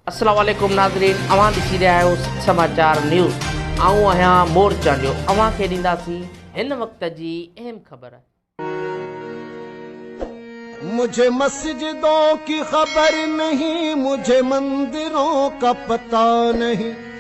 السلام عليڪم ناظرين اوهان ڏسي رهيا آهيو سنڌ سماچار نيوز آئون آهيان مور چانڊيو اوهان کي ڏينداسين هن وقت جي اهم خبر. مجھے مسجدون ڪي خبر نهين مجھے مندرون ڪا پتا نهين.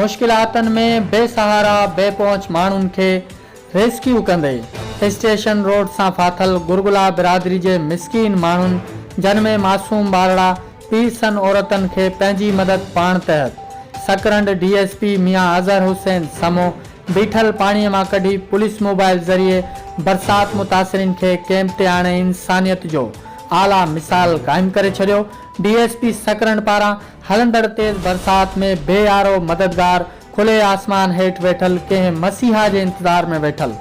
مشڪلاتن ۾ بي سهارا بي پهچ ماڻهن کي ريسڪيو ڪندي اسٽيشن روڊ سان ڦاٿل گرگلا برادري جي مسڪين ماڻهن جن ۾ معصوم ٻارڙا پيرسن عورتن کي پنهنجي مدد پاڻ تحت Sakrand D S P Mian Azhar Hussain Samo بيٺل پاڻي مان ڪڍي پوليس موبائل ذريعي برسات متاثرين کي ڪيمپ تي آڻي انسانيت جو اعليٰ مثال قائم ڪري ڇڏيو ڊي ايس پي سڪرنڊ پاران هلندڙ تيز برسات ۾ بي آرو مددگار کلي آسمان هيٺ ويٺل ڪنهن مسيحا جي انتظار ۾ ويٺل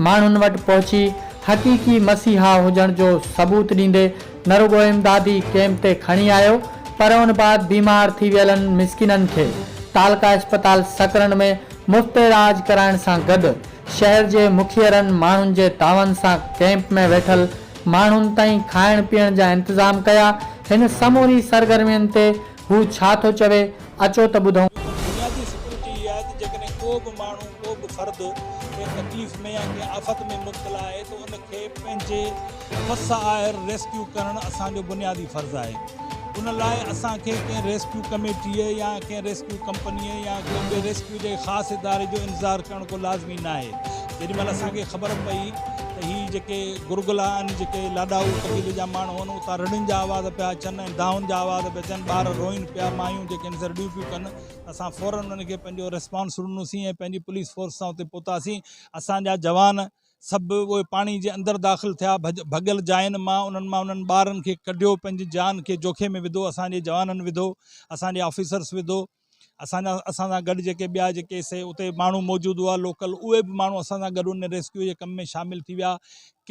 ماڻهن وٽ پهچي حقيقي مسيحا هجڻ جو ثبوت ڏيندي نه رڳو امدادي ڪئمپ تي کڻي آيو پر ان بعد بيمار ٿي ويلن مسڪينن کي تعلقه اسپتال سڪرنڊ ۾ مفت اعلاج ڪرائڻ سان گڏ شهر جي مکيرن ماڻهن جي دانون سان ڪئمپ ۾ ويٺل ماڻهن تائين کائڻ پيئڻ جا انتظام ڪيا. هن سموري سرگرمين تي هو ڇا ٿو چوي، اچو ته ٻڌون. بنيادي سيڪيورٽي اها آهي ته جيڪڏهن ڪو به ماڻهو، ڪو به فرد ڪنهن تڪليف ۾ يا ڪنهن آفت ۾ مبتلا آهي ته ان کي پنهنجي وس آهر ريسڪيو ڪرڻ اسان جو بنيادي فرض آهي. ان لاء اسان کي ڪنهن ريسڪيو ڪميٽيء يا ڪنهن ريسڪيو ڪمپنيء يا ڪنهن ٻئي ريسڪيو جي خاص اداري جو انتظار ڪرڻ ڪو لازمي ناهي. جيڏي مهل اسان کي خبر پئي ته هي جيڪي گرگلا آهن، جيڪي لاڏائو قبيلي جا ماڻهو آهن، اتان رڙين جا آواز پيا اچن ۽ دانهن جا آواز پيا اچن، ٻار روئين پيا، مايون جيڪي آهن سي رڙيون پيون ڪن، ته اسان فورن انهن کي پنهنجو ريسپانس ڏنوسين ۽ پنهنجي پوليس فورس سان اتي پهتاسين. اسان جا جوان سڀ اهي پاڻي جي اندر داخل ٿيا، ڀڳل جاين مان انهن مان انهن ٻارن کي ڪڍيو، پنهنجي جان کي جوکي ۾ وڌو، اسان جي جوانن وڌو، اسان جي آفيسرس وڌو. اسان جا اسان سان گڏ جيڪي ٻيا جيڪي سي اتي ماڻهو موجود هئا لوڪل اهي به ماڻهو اسان سان گڏ ان ريسڪيو جي ڪم ۾ شامل ٿي ويا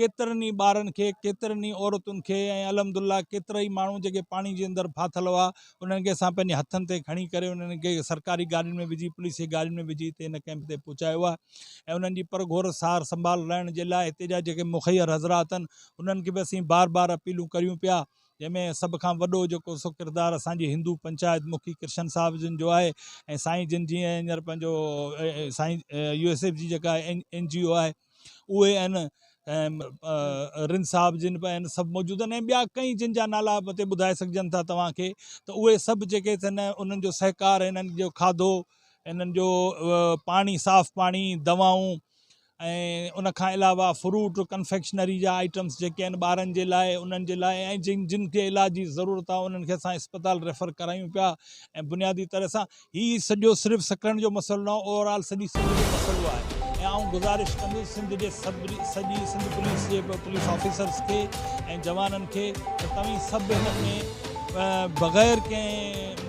ڪيترن ئي ٻارن کي ڪيترن ئي عورتن کي ۽ الحمد لله ڪيترا ئي ماڻهو جيڪي پاڻي جي اندر ڦاٿل هئا انهن کي اسان پنهنجي هٿن تي کڻي ڪري انهن کي سرڪاري گاڏين ۾ وجهي پوليس جي گاڏين ۾ وجهي هتي هن ڪيمپ تي پهچايو آهي ۽ انهن جي پرگهور سار سنڀال رهڻ جي لاء هتي جا جيڪي مخير حضرات آهن انهن کي به اسين بار بار اپيلون ڪريون پيا جنهن ۾ سڀ کان وڏو جيڪو سو ڪردار اسان جي هندو پنچائت مکي ڪرشن صاحب جن جو آهي ۽ سائين جن جي هينئر پنهنجو سائين يو ايس ايف جي جيڪا اين جي او آهي اهي آهن رن صاحب جن به آهن سڀ موجود آهن ۽ ٻيا ڪئين جن جا نالا به هتي ٻڌائي سگهجن ٿا توهان کي ته اهي سڀ جيڪي ٿن انهن جو سهڪار انهن جو کاڌو انهن جو پاڻي صاف پاڻي دوائون ۽ ان کان علاوه فروٽ ڪنفيڪشنري جا آئٽمس جيڪي آهن ٻارن جي لاء انهن جي لاء ۽ جن جن کي علاج جي ضرورت آهي انهن کي اسان اسپتال ريفر ڪرايون پيا ۽ بنيادي طرح سان هي سڄو صرف سکرن جو مسئلو نه اوور آل سڄي سنڌ جو مسئلو آهي ۽ آئون گذارش ڪندس سنڌ جي سڄي سنڌ پوليس جي پوليس آفيسرس کي ۽ جوانن کي ته توهين سڀ هن ۾ بغير ڪنهن